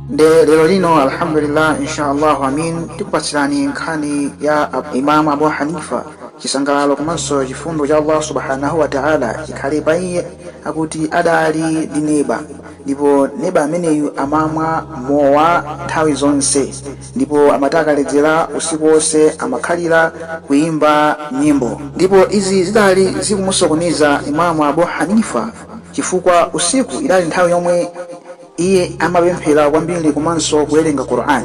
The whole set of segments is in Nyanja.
nde lero lino alhamdulillah inshallah amin tikupatsirani nkhani ya imamu abu hanifa chisangalalo komanso chifundo cha allah subhanahu wa taala chikhale pa iye akuti adali ndi neba ndipo neba ameneyu amamwa mowa nthawi zonse Ndipo amati akaledzera, usiku wonse amakhalira kuimba nyimbo. Ndipo izi zidali zikumusokoneza Imaam Abu Hanifa chifukwa usiku idali nthawi yomwe iye amapemphera kwambiri komanso kuwerenga Qur'an.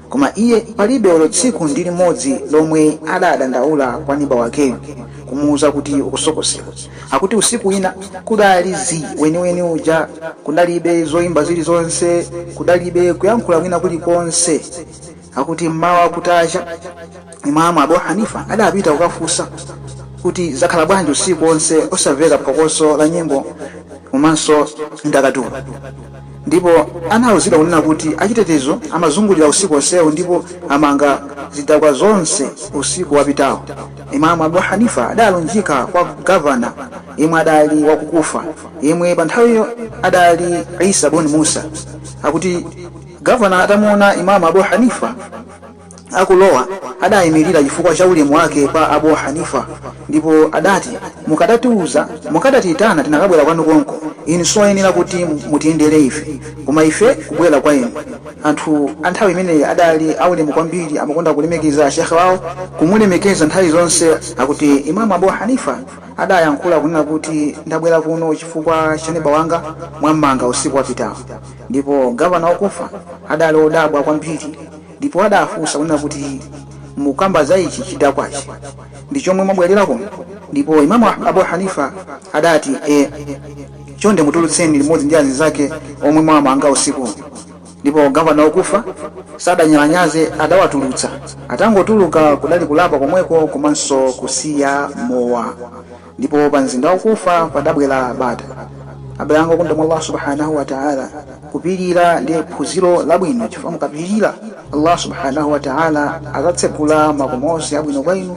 Koma iye palibe olo tsiku ndi limodzi lomwe adadandaula kwa neba wakeyu kumuuza kuti ukusokosera. akuti usiku wina kudali zii weniweni uja kudalibe zoyimba zilizonse kudalibe kuyankhula kwina kulikonse akuti mmawa kutacha imamu abu hanifa adapita kukafunsa kuti zakhala bwanji usiku onse osamveka phokoso la nyimbo komanso ndakatulo ndipo anauzidwa kunena kuti achitetezo amazungulira usiku onsewo ndipo amanga zidakwa zonse usiku wapitawu Imaam Abu Hanifa adalunjika kwa Governor yemwe adali wa ku Kufa yemwe panthawiyo adali Isa bun Musa. Akuti Governor atamuona Imaam Abu Hanifa akulowa adayimilira chifukwa cha ulemu wake pa Abu Hanifa ndipo adati mukadatiuza, mukadatiyitana tinakabwera kwanu konko, inu sioyenera kuti mutiyendere ife koma ife kubwera kwa inu. Anthu a nthawi imeneyi adali aulemu kwambiri, amakonda kulemekeza Sheikh wawo, kumulemekeza nthawi zonse. Akuti Imaam Abuu Hanifah adayankhula kunena kuti, Ndabwera kuno chifukwa cha neba wanga, mwammanga usiku wapitawu. Ndipo Governor wa Kufa adali odabwa kwambiri, ndipo adafunsa kunena kuti, Mukamba za ichi chidakwachi ndi chomwe mwabwelera kuno? Ndipo Imaam Abuu Hanifah adati, Eeh. Chonde mutulutseni limodzi ndi azinzake omwe mwawamanga usiku. Ndipo Governor wa Kufa sadanyalanyaze adawatulutsa. Atangotuluka kudali kulapa komweko komanso kusiya mowa. Ndipo pa mzinda wa Kufa padabwera bata. Abale anga okondedwa mwa Allah Subhaanah wa Ta'ala kupilira ndi phunziro labwino chifukwa mukapilira Allah Subhaanah wa Ta'ala azatsegula makomo onse abwino kwa inu.